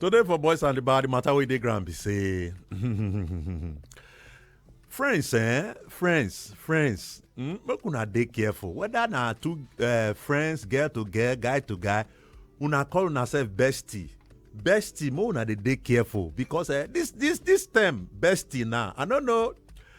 Today for Boys and the Bar, the matter wey dey ground be say friends eh friends friends mm, make una dey careful whether na two uh, friends girl to girl guy to guy una call una sef bestie bestie make una dey dey careful because eh, this this this term bestie now i no know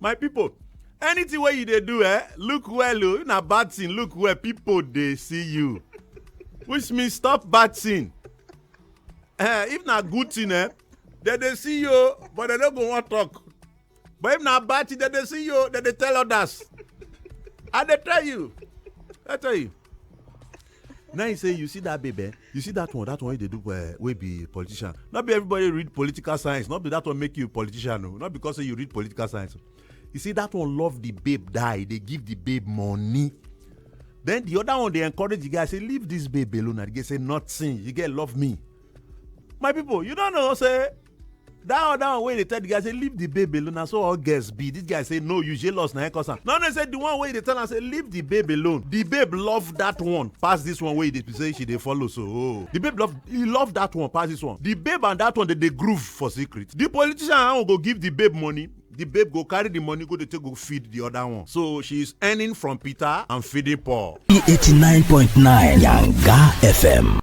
my pipo anything wey you dey do eh look well o if na bad thing look well pipo dey see you which means stop bad thing eh if na good thing eh dem dey see you o but dem no go wan talk but if na bad thing dem dey see you o dem dey tell others i dey tell you i tell you now you say you see that baby eh? you see that one that one wey dey do uh, wey be politician no be everybody read political science no be that one make you politician o no because say you read political science you see that one love the babe die e dey give the babe money then the other one dey encourage the guy say leave this babe alone and the guy say nothing you get love me my people you don know say that other one wey dey tell the guy say leave the babe alone na so all girls be this guy say no you jealous na him cause am no no say the one wey dey tell am say leave the babe alone the babe love that one pass this one wey dey say she dey follow so oh the babe love he love that one pass this one the babe and that one dey dey groove for secret the politician and go give the babe money the babe go carry the money go dey take go feed the other one so she is earning from peter and feeding paul. e eighty nine point nine yanga fm.